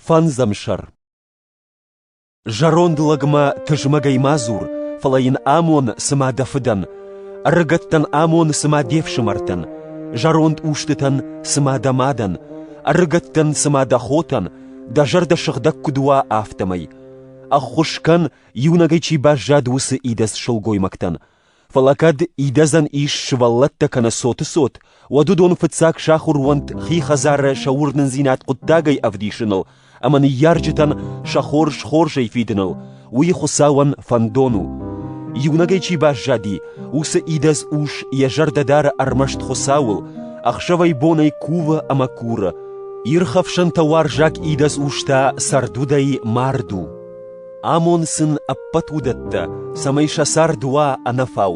Фӕндзӕмсӕр. Зӕронд лӕгмӕ тызмӕгӕй ма дзур, фӕлӕ йын амон, цымӕ дӕ фыдӕн, ӕрыгӕттӕн амон, цымӕ де фсымӕртӕн, зӕронд устытӕн, цымӕ дӕ мадӕн, ӕрыгӕттӕн, цымӕ дӕ хотӕн, дӕ зӕрдӕ сыгъдӕг куыд уа, афтӕмӕй. Ӕххуыс кӕн, иунӕгӕй чи баззад, уыцы идӕдз сылгоймӕгтӕн, Фӕлӕ кӕд идӕдзӕн ис сывӕллӕттӕ кӕнӕ цоты цот, уӕд уыдон фыццаг сахуыр уӕнт хи хӕдзары сӕ уырнындзинад хъуыддагӕй ӕвдисыныл ӕмӕ ныййарджытӕн сӕ хорз хорзӕй фидыныл, уый Хуыцауӕн фӕндон у. Иунӕгӕй чи баззади, уыцы идӕдз ус йӕ зӕрдӕ дары ӕрмӕст Хуыцауыл, ӕхсӕвӕй-бонӕй кувы ӕмӕ куры. Ирхӕфсӕнтӕ уарзаг идӕдз ус та цӕрдудӕй мард у. Амон сын ӕппӕт уыдӕттӕ, цӕмӕй сӕ цард уа ӕнӕфау,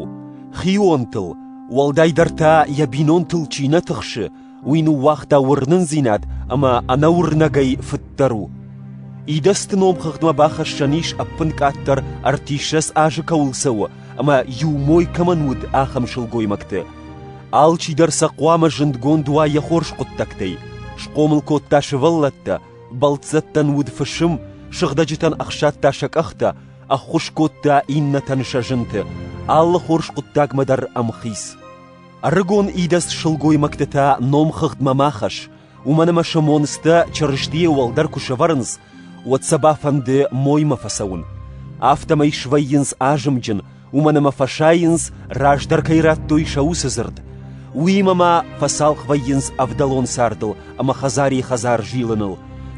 хионтыл, уӕлдайдӕр та йӕ бинонтыл чи нӕ тыхсы, уый ныууагъта уырнындзинад ӕмӕ ӕнӕуырнӕгӕй фыддӕр у. Идӕдзты номхыгъдмӕ бахӕссӕн ис ӕппынкъаддӕр ӕртиссӕдз азы кӕуыл цӕуы ӕмӕ иу мой кӕмӕн уыд, ахӕм сылгоймӕгты. Алчидӕр сӕ хъуамӕ зындгонд уа йӕ хорз хъуыддӕгтӕй, схъомыл кодта сывӕллӕттӕ, Бӕлццӕттӕн уыд фысым, сыгъдӕджытӕн ӕхсадта сӕ къӕхтӕ, ӕххуыс кодта иннӕтӕн сӕ зынты, алы хорз хъуыддагмӕ дӕр ӕм хиц. Ӕрыгон идӕдз сылгоймӕгты та номхыгъдмӕ ма хӕсс, уымӕн ӕмӕ сӕ монцтӕ Чырыстийӕ уӕлдӕр куы сӕвӕрынц, уӕд сӕ бафӕнды моймӕ фӕцӕуын. Афтӕмӕй свӕййынц азымджын, уымӕн ӕмӕ фӕсайынц, раздӕр кӕй радтой сӕ уыцы дзырд. Уыимӕ ма фӕцалх вӕййынц ӕвдӕлон цардыл ӕмӕ хӕдзари-хӕдзар зилыныл.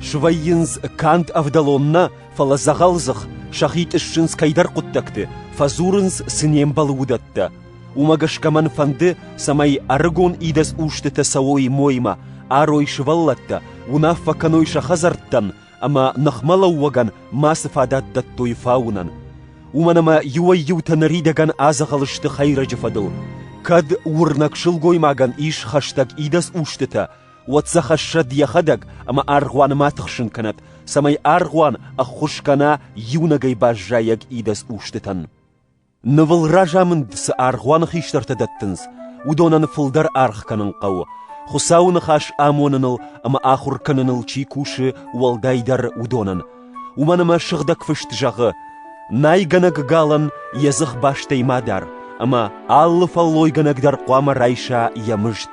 Свӕййынц канд ӕвдӕлон нӕ, фӕлӕ дзӕгъӕлдзых, сӕхи тъыссынц кӕйдӕр хъуыддӕгты, фӕдзурынц цы не мбӕлы уыдӕттӕ. Уымӕ гӕсгӕ мӕн фӕнды, цӕмӕй ӕрыгон идӕдз устытӕ цӕуой моймӕ, арой сывӕллӕттӕ, уынаффӕ кӕной сӕ хӕдзӕрттӕн, ӕмӕ ныхмӕлӕууӕгӕн мацы фадат дӕттой фауынӕн. Уымӕн ӕмӕ иуӕй-иутӕ ныридӕгӕн адзӕгъӕл сты хӕйрӕджы фӕдыл. Кӕд уырнӕг сылгоймагӕн ис хӕстӕг идӕдз устытӕ, уӕд сӕ хӕссӕд йӕхӕдӕг ӕмӕ аргъуаны ма тыхсын кӕнӕд, цӕмӕй аргъуан ӕххуыс кӕна иунӕгӕй баззайӕг идӕдз устытӕн. Нывыл разамынд цы аргъуаны хистӕртӕ дӕттынц, уыдонӕн фылдӕр аргъ кӕнын хъӕуы, Хуыцауы ныхас амоныныл ӕмӕ ахуыр кӕныныл чи кусы, уӕлдайдӕр уыдонӕн. Уымӕн ӕмӕ Сыгъдӕг Фыст зӕгъы: «Найгӕнӕг галӕн йӕ дзых бастӕй ма дар, ӕмӕ алы фӕллойгӕнӕг дӕр хъуамӕ райса йӕ мызд.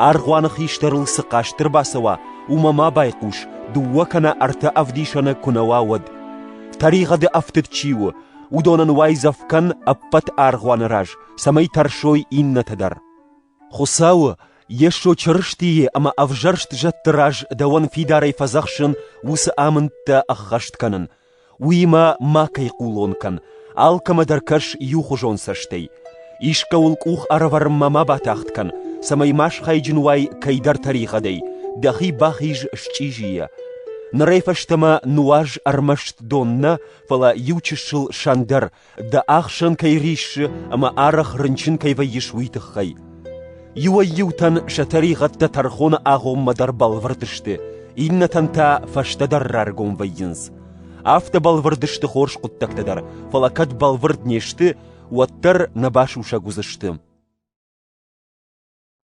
Аргъуаны хистӕрыл цы хъаст ӕрбацӕуа, уымӕ ма байхъус, дыууӕ кӕнӕ ӕртӕ ӕвдисӕны куы нӕ уа, уӕд. Тӕригъӕды ӕфтыд чи у, уыдонӕн уайдзӕф кӕн ӕппӕт аргъуаны раз, цӕмӕй тӕрсой иннӕты дӕр. Хуыцауы, Йесо Чырыстийы ӕмӕ ӕвзӕрст зӕдты раз дӕуӕн фидарӕй фӕдзӕхсын уыцы амындтӕ ӕххӕст кӕнын, уыимӕ макӕй хъулон кӕн, алкӕмӕ дӕр кӕс иухуызон цӕстӕй. Искӕуыл къух ӕрӕвӕрынмӕ ма батагъд кӕн, цӕмӕй ма схайджын уай кӕйдӕр тӕригъӕдӕй, дӕхи бахиз счъизийӕ. Нырӕй фӕстӕмӕ нуаз ӕрмӕст дон нӕ, фӕлӕ иучысыл сӕндӕр, дӕ ӕхсӕн кӕй риссы ӕмӕ арӕх рынчын кӕй вӕййыс, уый тыххӕй. Иуӕй-иутӕн сӕ тӕригъӕдтӕ тӕрхоны агъоммӕ дӕр бӕлвырд сты, иннӕтӕн та фӕстӕдӕр раргом вӕййынц. Афтӕ бӕлвырд сты хорз хъуыддӕгтӕ дӕр, фӕлӕ кӕд бӕлвырд не сты, уӕддӕр нӕ басусӕг уыдзысты.